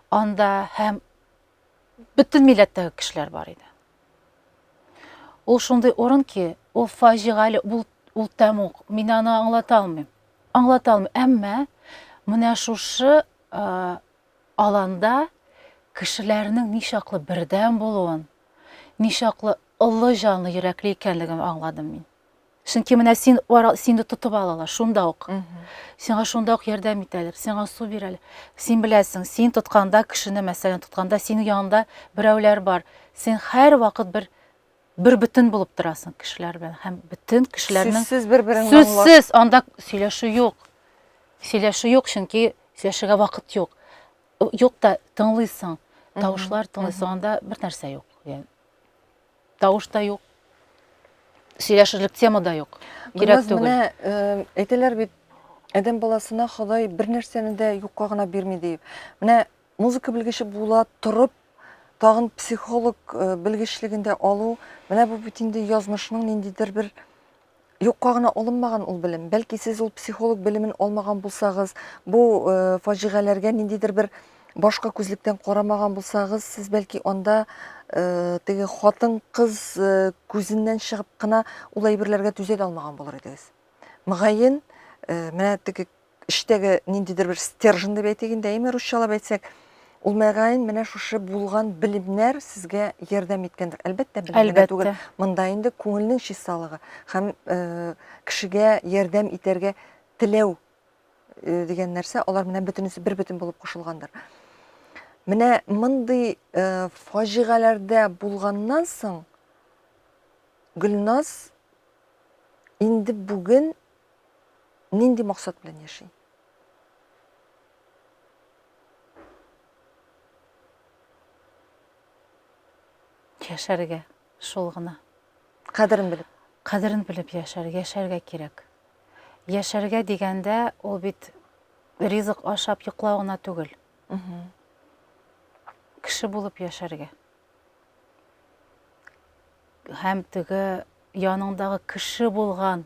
Анда һәм бөтен милләттәге кешеләр бар иде. Ул шундый урын ки, ул фаҗигале, ул, ул тәмук. Мин аны аңлата алмыйм. Аңлата алмыйм. Әмма менә шушы э, Аланда кешеләрнең ничаклы бердәм булуын, ничаклы олы җанлы, йөрәкле икәнлеген аңладым мин. Чөнки менә син сине тотып алалар шунда ук. Сиңа шунда ук ярдәм итәләр, сиңа су бирәләр. Син беләсең, син тотканда, кешене мәсәлән тотканда, синең янында берәүләр бар. Син һәрвакыт бер бер бөтен булып торасың кешеләр белән һәм бөтен кешеләрнең сүзсез бер берен сүзсез анда сөйләшү юк сөйләшү юк чөнки сөйләшергә вакыт юк юк та тыңлыйсың тавышлар тыңлыйсың анда бер нәрсә юк yani, тавыш та юк сөйләшерлек тема да юк кирәк түгел менә э, әйтәләр бит адәм баласына ходай бер нәрсәне дә юкка гына бирми диеп менә Музыка белгече була торып, тагын психолог э, белгечлеген дә алу, менә бу бит инде язмышның ниндидер бер юкка гына алынмаган ул белем. Бәлки сез ул психолог белемен алмаган булсагыз, бу э, фаҗигаләргә ниндидер бер башка күзлектән карамаган булсагыз, сез бәлки анда э, теге хатын-кыз э, күзеннән чыгып кына ул әйберләргә түзә дә алмаган булыр идегез. Мөгаен, э, менә теге эчтәге ниндидер бер стержен дип әйтик инде, әйме русчалап әйтсәк, ул мәгаен менә шушы булган белемнәр сезгә ярдәм иткәндер. Әлбәттә, белемгә түгел. Монда инде күңелнең чисталыгы һәм э, кешегә ярдәм итәргә теләү э, дигән нәрсә, алар менә бөтенесе бер бөтен булып кушылгандыр. Менә мондый э, фаҗигаләрдә булганнан соң Гөлназ инде бүген Нинди максат белән яши? Яшәргә, шул гына. Кадерен белеп. Кадерен белеп яшәр, яшәргә кирәк. Яшәргә дигәндә, ул бит ризык ашап йоклау гына түгел. Кеше булып яшәргә. Һәм теге яныңдагы кеше булган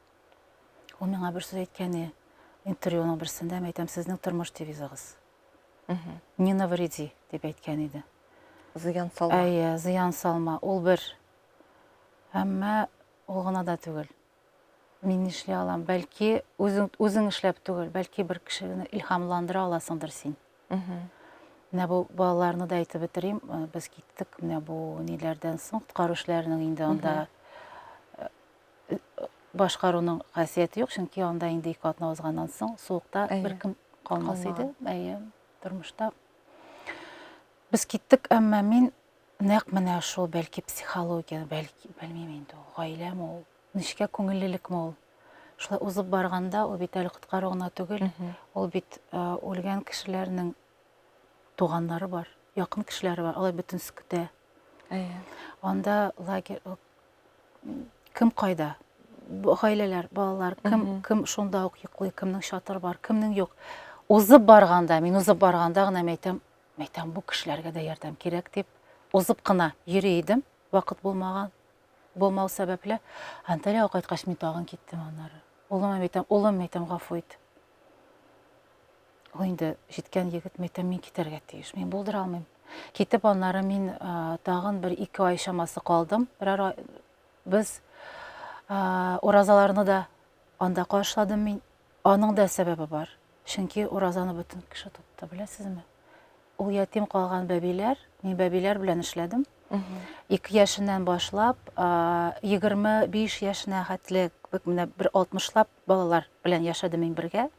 Ул миңа бер сүз әйткәне, интервьюның берсендә мин әйтәм, сезнең тормыш девизыгыз. Не навреди дип әйткән иде. Зыян салма. Әйе, зыян салма. Ул бер. Әмма ул гына да түгел. Мин эшли алам. Бәлки үзең үзең эшләп түгел, бәлки бер кешене илһамландыра аласыңдыр син. Менә бу балаларны да әйтеп бетерим. Без киттек менә бу ниләрдән соң, коткаручыларның инде анда башкаруның хәсияте юк, чөнки анда инде ике атна узганнан соң суыкта беркем калмас иде. Әйе, тормышта. Без киттек, әмма мин нәкъ менә шул, бәлки психология, бәлки, белмим инде ул, гаиләме ул, нечкә күңеллелекме ул. Шулай узып барганда, ул бит әле коткару гына түгел, ул бит үлгән кешеләрнең туганнары бар, якын кешеләре бар, алар бөтенесе көтә. Әйе. Анда лагерь, Кем кайда? Гаиләләр, балалар, кем, кем шунда ук йоклый, кемнең чатыр бар, кемнең юк. Узып барганда, мин узып барганда гына мәйтәм, мәйтәм бу кешеләргә дә ярдәм кирәк дип, узып кына йөри идем, вакыт булмаган, булмау сәбәпле. Анталиягә кайткач мин тагын киттем аннары. Улыма мәйтәм, улым мәйтәм, гафу ит. Ул инде җиткән егет, мин әйтәм, мин китәргә тиеш, мин булдыра алмыйм. Китеп, аннары мин а, тагын бер ике ай чамасы калдым. Берәр ай без а, уразаларны да анда каршыладым мин. Аның да сәбәбе бар. Чөнки уразаны бөтен кеше тотты, беләсезме? Ул ятим калган бәбиләр, мин бәбиләр белән эшләдем. Ике яшеннән башлап, а, 25 яшенә хәтле, бик менә бер 60лап Балалар белән яшәдем мин бергә.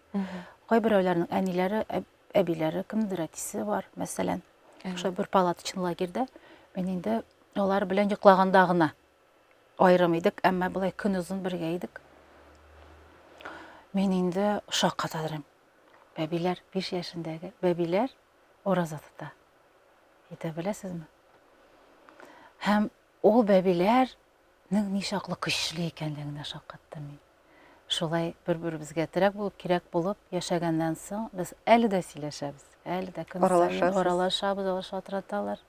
Кайберәүләрнең әниләре, әбиләре, кемдер әтисе бар, мәсәлән. Шулай бер палаточный лагерьдә мин инде алар белән йоклаганда гына аерым идек, әмма былай көн озын бергә идек. Мин инде шакка тадрым. Бәбиләр, 5 яшендәге бәбиләр ураза тота. Әйтә беләсезме? Һәм ул бәбиләр Нең ничаклы көчле икәнлегенә шаккаттым мин. Шулай бер-беребезгә терәк булып, кирәк булып яшәгәннән соң, без әле дә сөйләшәбез. Әле дә көн саен аралашабыз, алар шалтыраталар.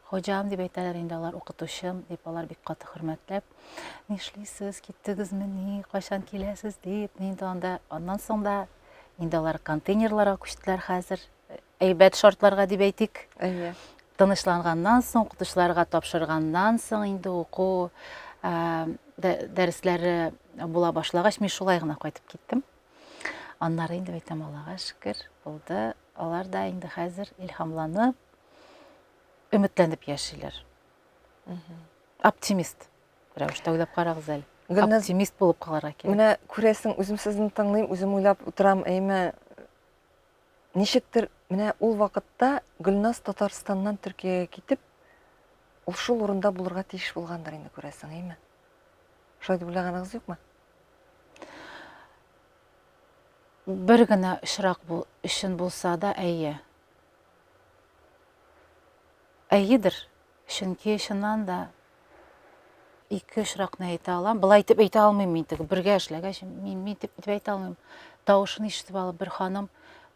Хуҗам дип әйтәләр инде алар, укытучым дип алар бик каты хөрмәтләп. Нишлисез, киттегезмени, кайчан киләсез дип, мин дә анда. Аннан соң да инде алар контейнерларга күчтеләр хәзер. әйбәт шартларга дип әйтик. Әйе. Тынычланганнан соң, укытучыларга тапшырганнан соң инде уку дәресләре була башлагач, мин шулай гына кайтып киттем. Аннары инде әйтәм, Аллага шөкер, булды. Алар да инде хәзер илһамланып, өметләнеп яшиләр. Оптимист рәвештә уйлап карагыз әле. Гөлназ, оптимист булып калырга кирәк. Менә күрәсең, үзем сезне тыңлыйм, үзем уйлап утырам, әйме, Ничектер, менә ул вакытта Гөлназ Татарстаннан Төркиягә китеп, ул шул урында булырга тиеш булгандыр инде, күрәсең, әйме? Шулай дип уйлаганыгыз юкмы? Бер генә очрак бу өчен булса да, әйе. Әйедер. Чөнки, чыннан да, ике очракны әйтә алам. Былай итеп әйтә алмыйм мин теге бергә эшләгәч, мин мин дип итеп әйтә алмыйм. Тавышын ишетеп алып бер ханым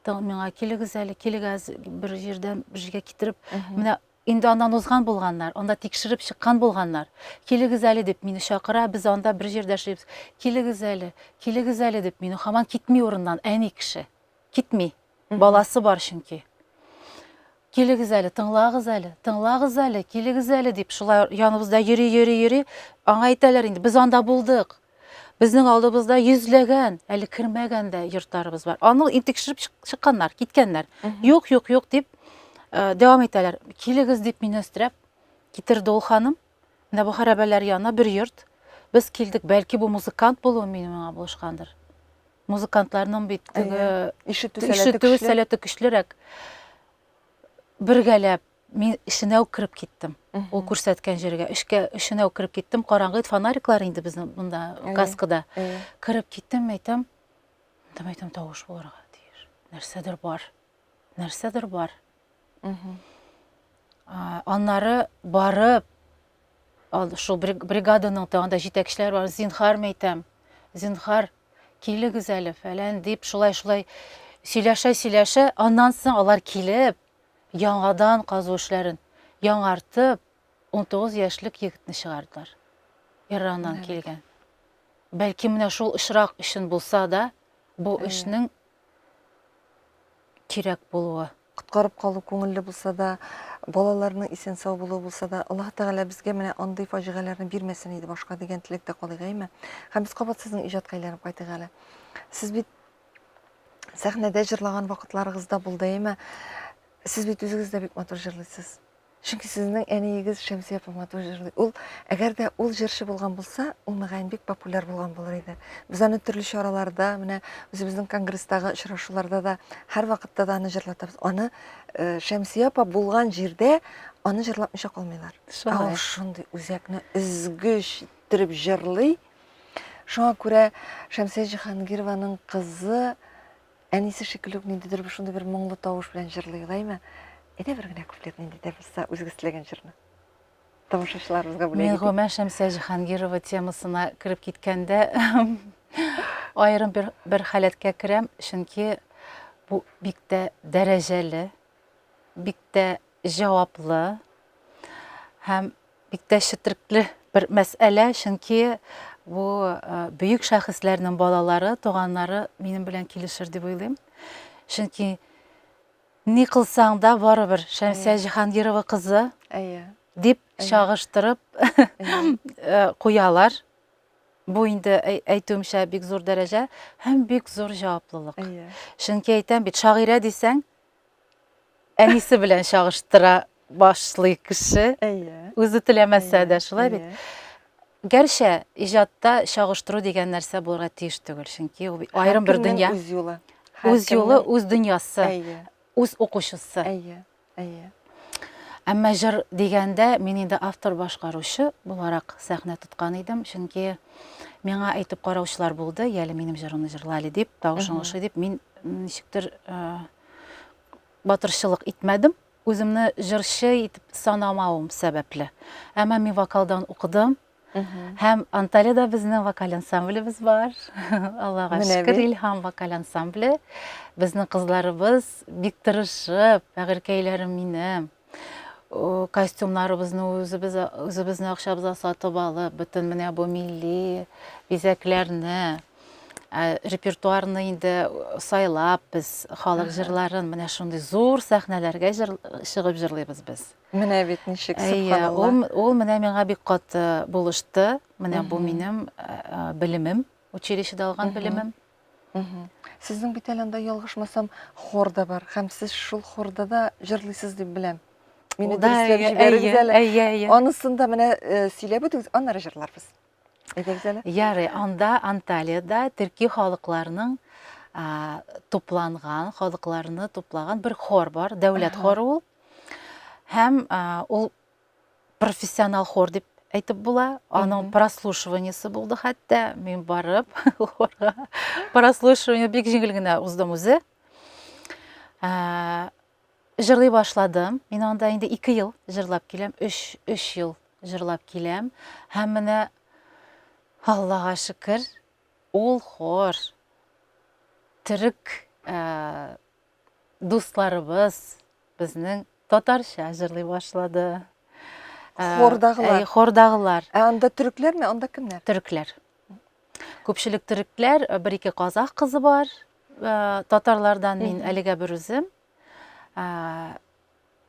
миңа килегез әле, килегез бер җирдән бер җиргә китереп, менә инде аннан узган булганнар, анда тикшереп чыккан булганнар. Килегез әле дип мине чакыра, без анда бер җирдә эшлибез. Килегез әле, килегез әле дип мине хаман китми урыннан әни кеше. Китми. Баласы бар чөнки. Килегез әле, тыңлагыз әле, тыңлагыз әле, килегез әле, дип шулай яныбызда йөри, йөри, йөри. Аңа әйтәләр инде, без анда булдык. Безнең алдыбызда йөзләгән, әле кермәгән дә йортларыбыз бар. Аны тикшереп чыкканнар, киткәннәр. Юк, юк, юк дип э, дәвам итәләр. Килегез дип мине өстерәп китерде ул ханым. Менә бу хәрабәләр янына бер йорт. Без килдек, бәлки бу музыкант булуы мине миңа булышкандыр. Музыкантларның бит теге ишетү сәләте көчлерәк. Бергәләп мин эченә үк кереп киттем. Ул күрсәткән җиргә. Эшкә эченә үк кереп киттем. Караңгы фонариклар инде безнең монда каскада. Кереп киттем, әйтәм, әйтәм, әйтәм, тавыш булырга тиеш. Нәрсәдер бар. Нәрсәдер бар. Аннары барып Шул бригаданың да анда җитәкчеләре бар. Зинхар мәйтәм, зинхар, килегез әле, фәлән дип, шулай-шулай сөйләшә-сөйләшә, аннан соң алар килеп, яңадан казу эшләрен яңартып, 19 яшьлек егетне чыгардылар. Ираннан килгән. Бәлки менә шул очрак өчен булса да, бу эшнең кирәк булуы. Коткарып калу күңелле булса да, балаларның исән-сау булуы булса да, Аллаһ Тәгалә безгә менә андый фаҗигаләрне бирмәсен иде башка дигән теләктә калыйк, әйме? Һәм без кабат сезнең иҗатка әйләнеп кайтыйк әле. Сез бит сәхнәдә җырлаган вакытларыгыз да булды, әйме? Сез бит үзегез дә бик матур җырлыйсыз. Чөнки сезнең әниегез Шәмсия апа матур җырлый. Ул, әгәр дә ул җырчы булган булса, ул мөгаен бик популяр булган булыр иде. Без аны төрле чараларда, менә үзебезнең конгресстагы очрашуларда да һәр вакытта да аны җырлатабыз. Аны э, Шәмсия апа булган җирдә аны җырлатмыйча калмыйлар. Ә ул шундый үзәкне өзгеч иттереп җырлый. Шуңа күрә Шәмсия Җиһангированың кызы Әнисе шикелле үк ниндидер шундый бер моңлы тавыш белән җырлый Лайма. Әйдә бер генә куплет нинди дә булса үзегез теләгән җырны. Тамашачыларыбызга бүләк итик. Миңгомә Шәмсә Җиһангирова темасына кереп киткәндә аерым бер, бер халәткә керәм, чөнки бу бик тә дәрәҗәле, бик тә җаваплы һәм бик тә четерекле бер мәсьәлә, чөнки бу бөек шәхесләрнең балалары, туганнары минем белән килешер дип уйлыйм. Чөнки ни кылсаң да барыбер Шәмсия Җиһангирова кызы дип чагыштырып куялар. Бу инде әйтүемчә бик зур дәрәҗә һәм бик зур җаваплылык. Чөнки әйтәм бит, шагыйрә дисәң, әнисе белән чагыштыра башлый кеше. Әйе. Үзе теләмәсә дә шулай бит. Гәрчә иҗатта чагыштыру дигән нәрсә булырга тиеш түгел, чөнки ул аерым бер дөнья. Үз юлы. Үз юлы, үз дөньясы. Үз укучысы. Әйе. Әйе. Әмма җыр дигәндә мин инде автор-башкаручы буларак сәхнә тоткан идем, чөнки миңа әйтеп караучылар булды, яле минем җырымны җырла әле дип, тавышың ошый дип, мин ничектер батырчылык итмәдем, үземне җырчы итеп санамавым сәбәпле. Әмма мин вокалдан укыдым, Һәм Анталиядә безнең вокаль ансамблебез бар. Аллага шөкер, Илһам вокаль ансамбле. Безнең кызларыбыз бик тырышып, бәгырькәйләрем минем. Костюмнарыбызны үзебез үзебезнең акчабызга сатып алып, бөтен менә бу милли бизәкләрне, репертуарны инде сайлап, без халык җырларын менә шундый зур сәхнәләргә чыгып җырлыйбыз без. Менә бит ничек, сөбханалла. Әйе, ул, ул менә миңа бик каты булышты. Менә бу минем белемем, училищеда алган белемем. Сезнең бит әле анда ялгышмасам, хор да бар. Һәм сез шул хорда да җырлыйсыз дип беләм. Мине дөреслекләп җибәрегез әле. Әйе, әйе, әйе. Анысын да менә э, сөйләп үтегез, аннары җырларбыз. Әйдәгез әле. Ярый, анда Анталиядә төрки халыкларның тупланган, халыкларны туплаган бер хор бар, дәүләт хоры ул. Һәм ул профессионал хор дип әйтеп була. Аның прослушиваниесе булды хәтта. Мин барып хорга прослушивание бик җиңел генә уздым үзе. Ә, җырлый башладым. Мин анда инде 2 ел җырлап киләм, 3 3 ел җырлап киләм. Һәм менә Аллага шөкер, ул хор төрек ә, дусларыбыз безнең татарча җырлый башлады. Ә, Хордагылар. әй, Хордагылар. Ә анда төрекләрме, анда кемнәр? Төрекләр. Күпчелек төрекләр, ә, бер ике казах кызы бар. Ә, Татарлардан мин Мгм. әлегә бер үзем. Ә,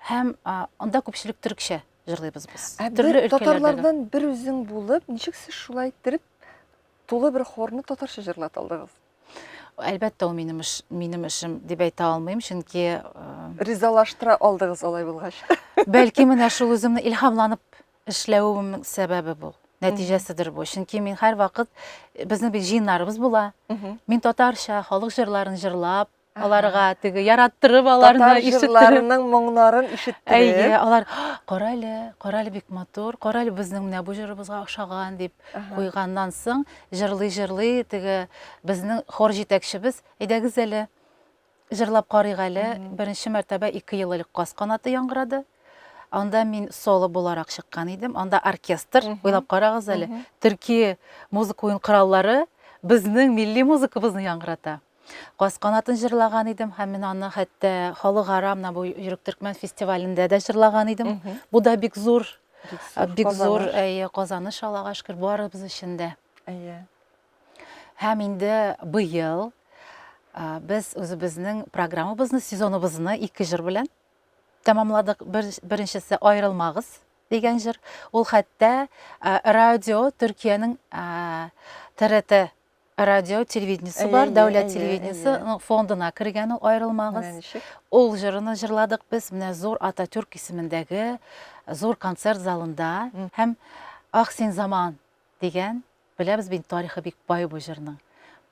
Һәм а, анда күпчелек төрекчә җырлыйбыз без. Ә Төрле бер өлкәләрдәге. татарлардан бер үзең булып, ничек сез шулай иттереп тулы бер хорны татарча җырлата алдыгыз? Әлбәттә, ул минем эш, минем эшем дип әйтә алмыйм, чөнки э, Ризалаштыра алдыгыз алай булгач. бәлки менә шул үземне илһамланып эшләвемнең сәбәбе бу. Нәтиҗәседер бу. Чөнки мин һәр вакыт безнең бит җыеннарыбыз була. Мгм. Мин татарча халык җырларын җырлап, Аларга теге яраттырып аларны Татар ишеттереп. җырларының моңнарын ишеттереп. Әйе, алар кара әле, кара әле бик матур, кара әле безнең менә бу җырыбызга охшаган дип куйганнан соң, җырлый-җырлый теге безнең хор җитәкчебез, әйдәгез әле, җырлап карыйк әле. Беренче мәртәбә ике ел элек Каз канаты яңгырады. Анда мин соло буларак чыккан идем. Анда оркестр, уйлап карагыз әле, төрки музыка уен кораллары безнең милли музыкабызны яңгырата. Каз канатын җырлаган идем һәм мин аны хәтта халыкара менә бу Йөрәк төркмән фестивалендә дә җырлаган идем. Бу да бик зур, бик зур казаныш, Аллага шөкер, барыбыз өчен дә. Әйе. Һәм инде быел без үзебезнең программабызны, сезоныбызны ике җыр белән тәмамладык. Беренчесе Аерылмагыз дигән җыр. Ул хәтта радио Төркиянең ТРТ Радио телевидениесе бар, дәүләт телевидениесе фондына кергән ул аерылмагыз. Ул җырыны җырладык без менә зур Ататюрк исемендәге зур концерт залында һәм Ах син заман дигән, беләбез бит тарихы бик бай бу җырның.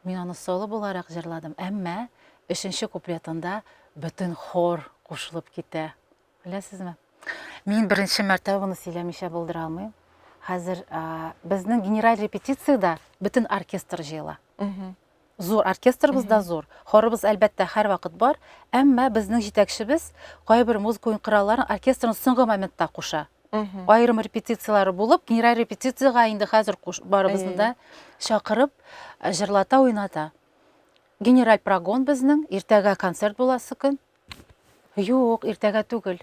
Мин аны соло буларак җырладым, әмма өченче куплетында бөтен хор кушылып китә. Беләсезме? Мин беренче мәртәбә буны сөйләмичә булдыра алмыйм. Хәзер безнең генераль репетициядә бөтен оркестр җыела. Зур оркестрыбыз да зур. Хорыбыз әлбәттә һәр вакыт бар, әмма безнең җитәкчебез кайбер музыка уен коралларын оркестрның соңгы моментта куша. Аерым репетицияләре булып, генераль репетициягә инде хәзер барыбызны да чакырып, җырлата, уйната. Генераль прогон безнең, иртәгә концерт буласы көн. Юк, иртәгә түгел.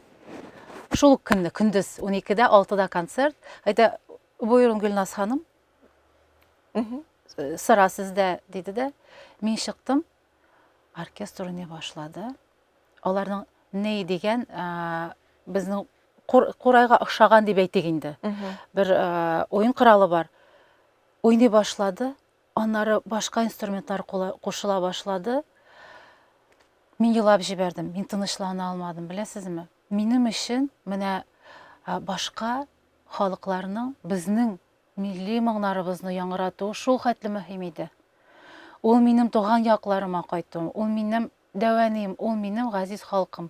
Шул ук көнне, көндез 12-дә, 6-да концерт. Әйтә, боерын Гөлназ ханым. Э, сыра сездә, диде дә. Мин чыктым. Оркестр уйный башлады. Аларның ней дигән э, безнең курайга охшаган дип әйтик инде. Бер э, уен коралы бар. Уйный башлады. Аннары башка инструментлар кушыла башлады. Мин елап җибәрдем, мин тынычлана алмадым, беләсезме? Минем өчен менә башка халыкларның безнең милли моңнарыбызны яңгыратуы шул хәтле мөһим иде. Ул минем туган якларыма кайтуым, ул минем дәвәнием, ул минем газиз халкым.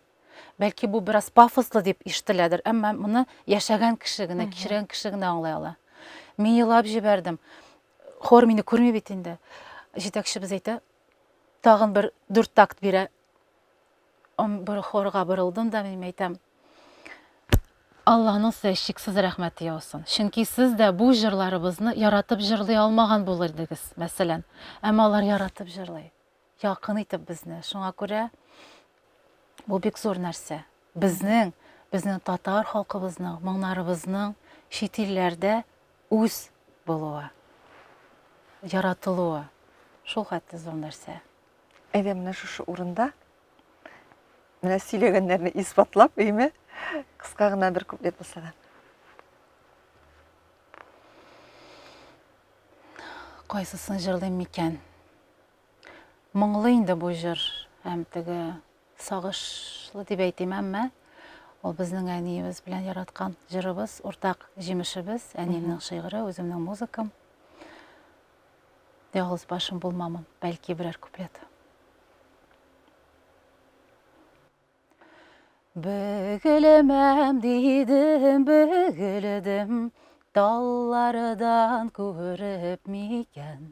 Бәлки бу бераз пафослы дип ишетеләдер, әмма моны яшәгән кеше генә, кичергән кеше генә аңлай ала. Мин елап җибәрдем. Хор мине күрми бит инде. Җитәкчебез әйтә, тагын бер дүрт такт бирә. Бер хорга борылдым да мин әйтәм, Алланың сезгә чиксез рәхмәте яусын. Чөнки сез дә бу җырларыбызны яратып җырлый алмаган булыр идегез, мәсәлән. Әмма алар яратып җырлый. якын итеп безне. Шуңа күрә бу бик зур нәрсә. Безнең, безнең татар халкыбызның, моңнарыбызның чит илләрдә үз булуы, яратылуы шул хәтле зур нәрсә. Әйдә менә шушы урында менә сөйләгәннәрне исбатлап, әйме? Кыска гына бер куплет булса да. Кайсысын җырлыйм микән? Моңлы инде бу җыр, һәм теге сагышлы дип әйтим, әмма ул безнең әниебез белән яраткан җырыбыз, уртак җимешебез, әниемнең шигыре, үземнең музыкам. Ялгыз башым булмамын, бәлки берәр куплет. Бөгелемәм дидем, бөгелдем, таллардан күреп микән?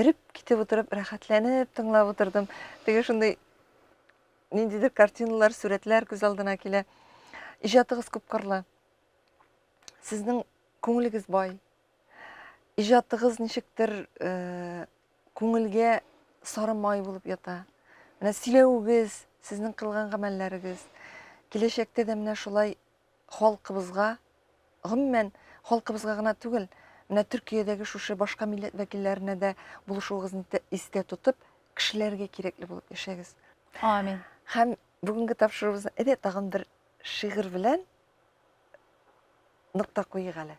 Эреп китеп утырып, рәхәтләнеп тыңлап утырдым. Теге шундый ниндидер картиналар, сурәтләр күз алдына килә. Иҗатыгыз күп кырлы. Сезнең күңелегез бай. Иҗатыгыз ничектер э, күңелгә сары май булып ята. Менә сөйләвегез, сезнең кылган гамәлләрегез киләчәктә дә менә шулай Халкыбызга, гомумән, халкыбызга гына түгел, менә Төркиядәге шушы башка милләт вәкилләренә дә булышуыгызны истә тотып, кешеләргә кирәкле булып яшәгез. Амин. Һәм бүгенге тапшыруыбызны әйдә тагын бер шигырь белән нокта куйыйк әле.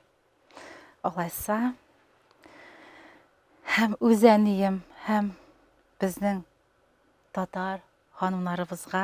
Алайса, һәм үз әнием, һәм безнең татар ханымнарыбызга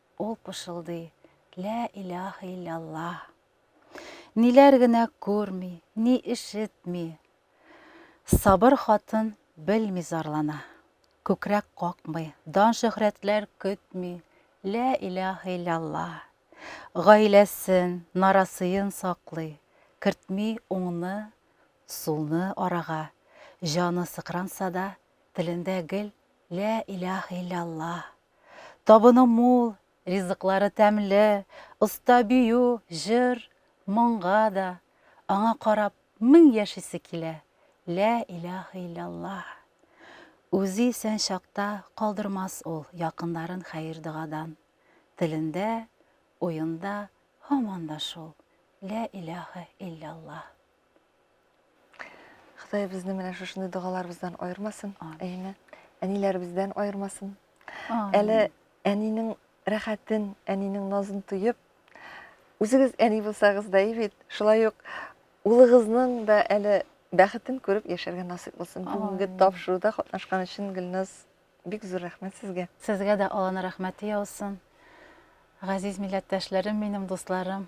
Ул пышылдый, Лә илаһ илля Аллаһ. Ниләр генә күрми, ни ишетми. Сабыр хатын белми зарлана. Күкрәк какмый, дан-шөһрәтләр көтми, Лә илаһ илля Аллаһ. Гаиләсен, нарасыен саклый, кертми уңны, сулны арага. Җаны сыкранса да, телендә гел Лә илаһ илля Аллаһ. Табыны мул, ризыклары тәмле, оста бию, җыр, моңга да, аңа карап, мең яшисе килә, лә иләһә илляллаһ. Үзе исән чакта калдырмас ул якыннарын хәер-догадан. Телендә, уенда һаман да шул, лә иләһә илляллаһ. Ходай безне менә шушындый догаларыбыздан аермасын, әйеме? Әниләребездән аермасын. Әле әнинең рәхәтен, әнинең назын тоеп, үзегез әни булсагыз да бит, шулай ук улыгызның да әле бәхетен күреп яшәргә насыйп булсын. Бүгенге тапшыруда катнашкан өчен Гөлназ бик зур рәхмәт сезгә. Сезгә дә Алланың рәхмәте яусын. Газиз милләттәшләрем минем, дусларым.